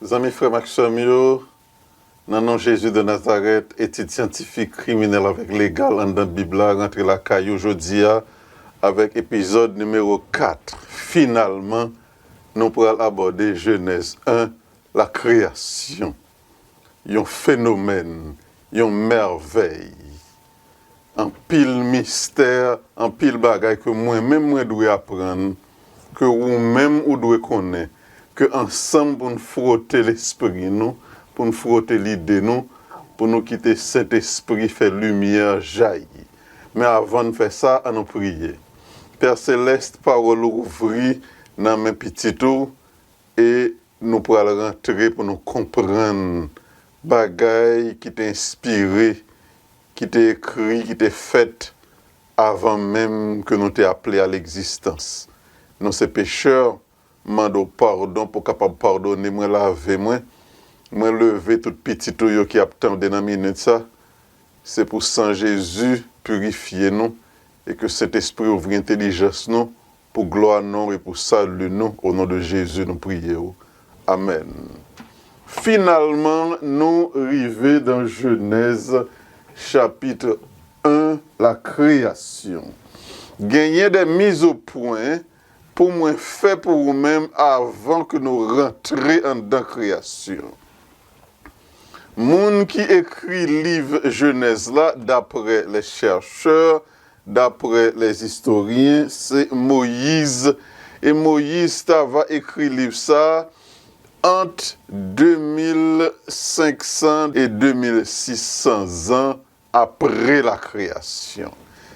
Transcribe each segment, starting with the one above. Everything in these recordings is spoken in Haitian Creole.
Zanmi frèm ak sèm yo, nan non Jezi de Nazarèt, etid syantifik, kriminèl avèk legal anndan Bib la rantre lakay ou jodi a avèk epizòd nimewo 4. Finalman, nou pral abòde Jenèz 1, lakreyasyon. yon fenomèn, yon mèvèy, anpil mistè, anpil bagay ke mwen menm mwen dwe aprann, ke ou menm ou dwe konnen, ke ansanm pou n fwote lespri nou, pou n fwote lide nou, pou nou kite Sentespri fè limyè jayi. Men avan n fè sa, an nou priye. Pè Selès, pawòl ou ouvri nan men pitit ou, e Nou pral rantre pou nou konprann bagay ki te enspire, ki te ekri, ki te fèt avan menm ke nou te aple a legzistans. Nou se pechè, m mande w padon pou w kapab padone mwen, lave mwen. Mwen leve tout pitit ou yo ki ap tande nan minit sa. Se pou san Jezi pirifye nou e ke Sentespri ouvri entelijans nou Pou glwa non e pou salu nou o non de Jezi nou priye w amen. Finalman nou rive dan jenèz chapitre 1 la kreyasyon. Genyen de miz o pwen pou mwen fè pou ou menm avan ke nou rantre andan kreyasyon. Moun ki ekri liv jenèz la daprè les chercheurs Daprè lè istoryen, se Moyiz, e Moyiz ta va ekri liv sa ant 2500 e 2600 zan apre lakreyasyon.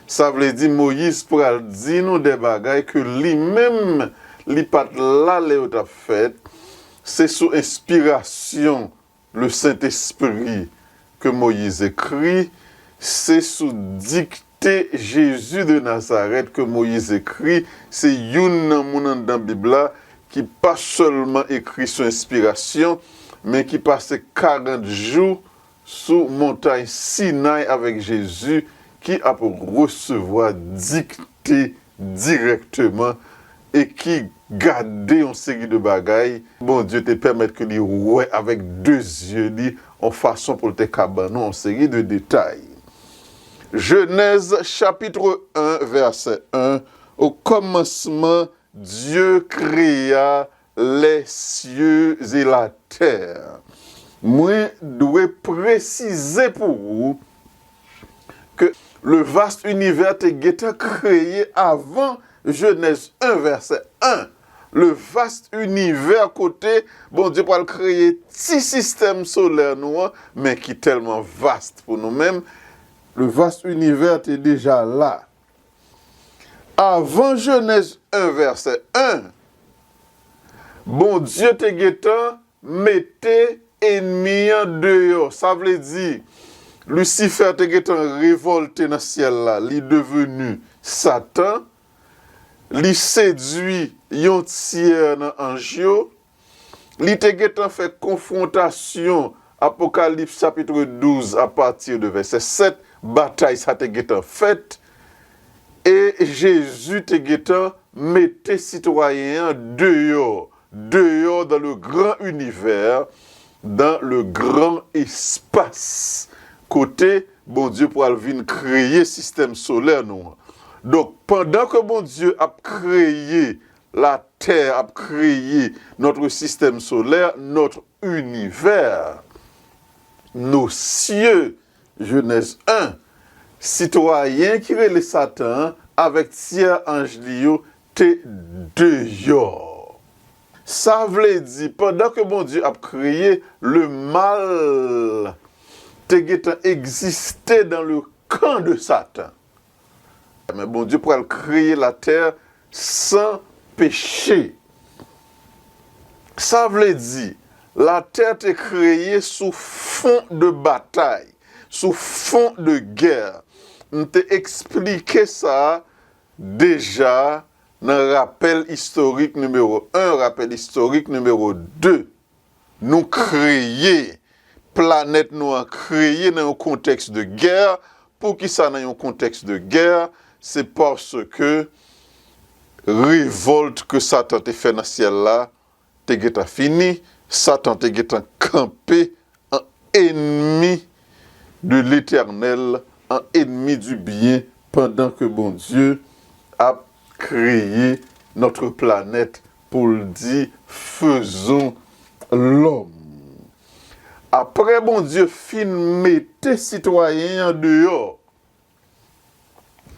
Sa vle di Moyiz pral di nou de bagay ke li menm li pa t la lè yo t ap fèt, se sou enspirasyon Le Sentespri ke Moyiz ekri, se sou dikte Jezi de Nazarèt ke Moyiz ekri, se youn nan moun anndan Bib la ki pa sèlman ekri sou enspirasyon, men ki pase karant jou sou montay Sinay avèk Jezi ki ap resevwa dikte dirèkteman e ki gade yon seri de bagay, Bondye te pèmèt ke li wè avèk de zye li yon fason pou l te ka ban nou yon seri de detay. Jenèz chapitre 1 vèsè 1, Okòmansman, Dye kreya Les cieux et la terre Mwen dwe presize pou ou ke le vaste univers te gentan kreye avan Genèse 1 verset 1, le vaste univers kote Bondye pral kreye ti sistèm solè nou an men ki tèlman vaste pou nou menm, le vaste univers te deja la Avan Jenèz 1 vèsè 1, Bondye te gentan mete enmi an deyò. Sa vle di, Lisifè te gentan revòlte nan syèl la, li deveni Satan, li sedui yon tyè nan anj yo. Li te gentan fè konfwontasyon, Apokalips chapitre 12 a partir de vèsè 7, batay sa te gentan fèt, e Jezi te gentan mete sitwayen an deyò, deyò dans le grand univers, dans le grand espace, kote Bondye pwal vin kreye sistèm solè nou an. Donk, pandan ke Bondye ap kreye La Terre ap kreye notre système solaire, notre univers. Nos cieux, Genèse 1. Sitwayen ki rele Satan an avèk tyè anj li yo te deyò. Sa vle di, pandan ke Bondye ap kreye, le mal te gentan egziste dans le camp de Satan. Amen Bondye pral kreye la tè san peche. Sa vle di la tè te kreye sou fon de batay, sou fon de gè. M te eksplike sa deja nan rapèl istorik nimewo 1, rapèl istorik nimewo 2. Nou kreye, planèt nou an kreye nan yon kontèks de gè, poukisa nan yon kontèks de gè, se paske revòlt ke satan te fè nan syèl la te gentan fini, satan te gentan kanpe an enmi de letènèl, an enmi di byen pandan ke Bondye ap kreye notre planète Pou l di, Fezon lòm. Apre Bondye fin mete sitwayen an deyò,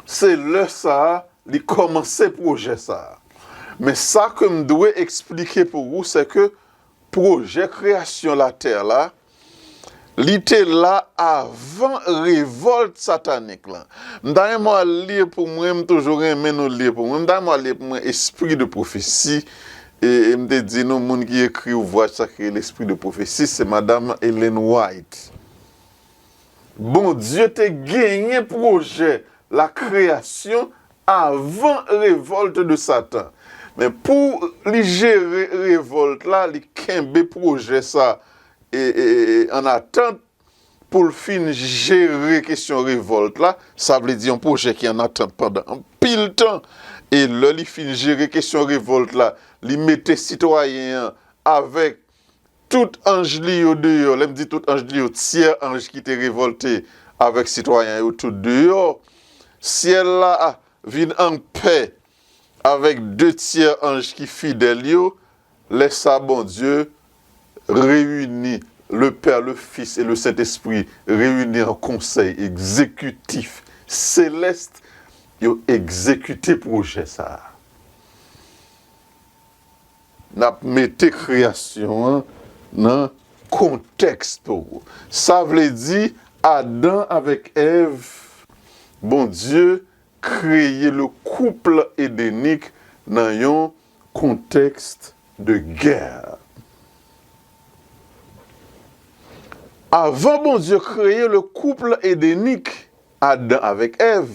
se lè sa a li kòmanse pwojè sa a. Men sa ke m dwe eksplike pou ou, sèke pwojè kreyasyon latè la a, Li te la avan revolt satanik lan. M ta renmen w al li pou mwen, m toujou renmen nou li pou mwen. M ta renmen w al li pou mwen Esprit de prophétie e m te di nou moun ki ekri ouvwaj sa ki rele Esprit de prophétie se madam Ellen White. Bondye te genyen pwojè la kreyasyon avan revolt de satan men pou li jere revolt la li kenbe pwojè sa an atant poul fin jere kesyon revolt la sa vle di yon pwojè ki an atant pandan anpil tan e lè li fin jere kesyon revolt la li mete sitwayen an avèk Tout anj li yo deyò. Lè m di tout anj li yo, tyè anj ki te revòlte avèk sitwayen yo tout deyò. Syèl la vin anpè avèk de tyè anj ki fidèl yo. Lè sa Bondye reyini, Lepè, Lefis e Lesentespri reyini an konsèy egzekitif selès, yo egzekite pwojè sa a. N ap mete kreyasyon an nan kontèks tou. Sa vle di, Adan avèk Èv, Bondye kreye le couple edenique nan yon kontèks de gè. Avan Bondye kreye le couple edenique, Adan avèk Èv,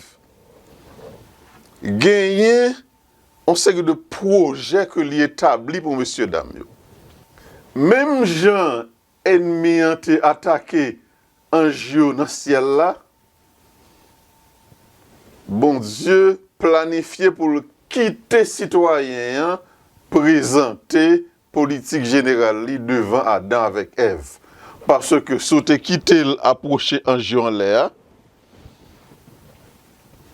genyen On seri de pwojè ke li etabli pou mesye dam yo. Menm jan enmi an te atake anj yo nan syèl la, Bondye planifye pou l kite sitwayen an prezante politik jeneral li devan Adan avèk Èv. Paske si w te kite l ap pwoche anj yo anlè a,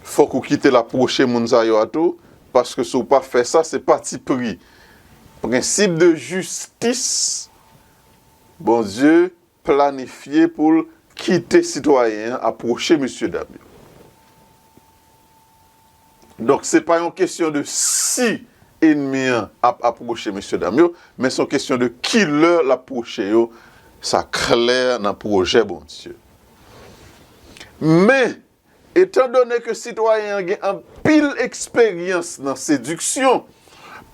fòk ou kite l ap pwoche moun sa yo a tou, paske si w pa fè sa, se patipri, prensip de jistis Bondye planifye pou l kite sitwayen an apwoche mesye dam yo. Donk se pa yon kesyon de si enmi an ap apwoche mesye dam yo, men se yon kesyon de ki lè l ap pwoche yo, sa klè nan pwojè Bondye. Men, etan done ke sitwayen an gen anpil eksperyans nan sediksyon,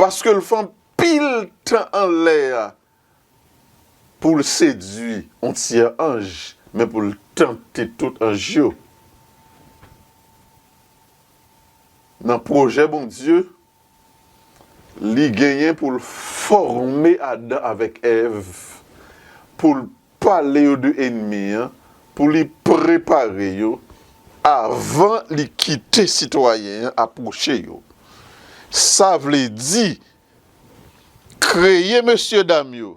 paske l fè anpil tan anlè a Pou l sedui on tyè anj, men pou l tante tout anj yo. Nan pwojè Bondye, li genyen pou l fòme Adan avèk Èv, pou l pale yo de enmi an, pou li prepare yo avan li kite sitwayen an apwoche yo. Sa vle di Kreye mesye dam yo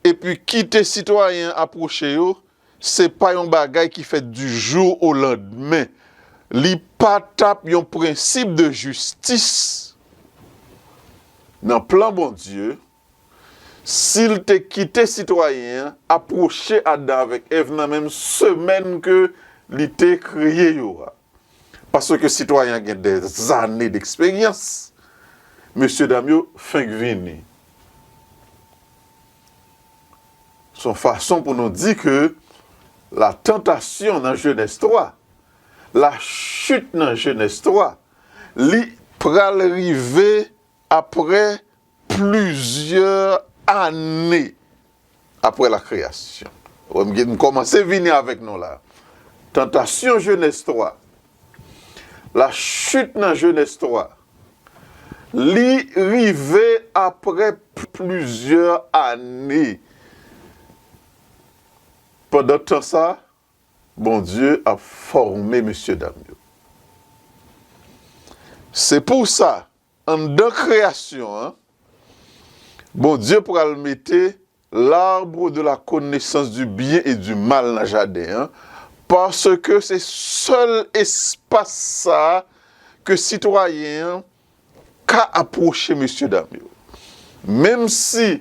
epi kite sitwayen an apwoche yo se pa yon bagay ki fèt di jou o landmen, li pa tap yon prensip de jistis nan plan Bondye si l te kite sitwayen an apwoche Adan avèk Èv nan menm semèn ke li te kreye yo a. Paske sitwayen an gen dè zane deksperyans, mesye dam yo fenk vini. Se yon fason pou nou di ke la tantasyon nan jenès 3, la chit nan jenès 3, li pral rive apre Plizyè ane apre lakreyasyon. Wè m gen m kòmanse vini avèk nou la. Tantasyon Jenèz 3. Lachit nan Jenèz 3. Li rive apre plizyè ane. Pandan tan sa, Bondye ap fòme mesyedam yo. Se pou sa Anndan kreyasyon an, Bondye pral mete l'arbre de la connaissance du bien et du mal nan jaden an, paske se sèl espas sa a ke sitwayen an ka apwoche mesye dam yo. Menm si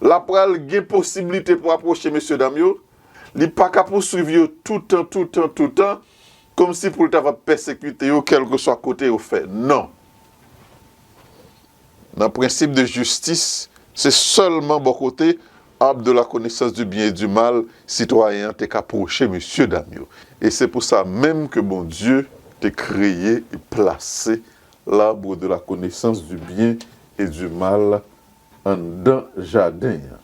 l ap pral gen posiblite pou apwoche mesye dam yo, li pa ka pouswiv yo toutan, toutan, toutan, Kòmsi pou l ta va pèsekite yo kèlkeswa kote yo fè? Non. Nan prensip de jistis, se sèlman bò kote arbre de la connaissance du bien et du mal sitwayen an te ka pwoche mesyedam yo. E se pou sa menm ke Bondye te kreye e plase l'arbre de la connaissance du bien et du mal anndan jaden an.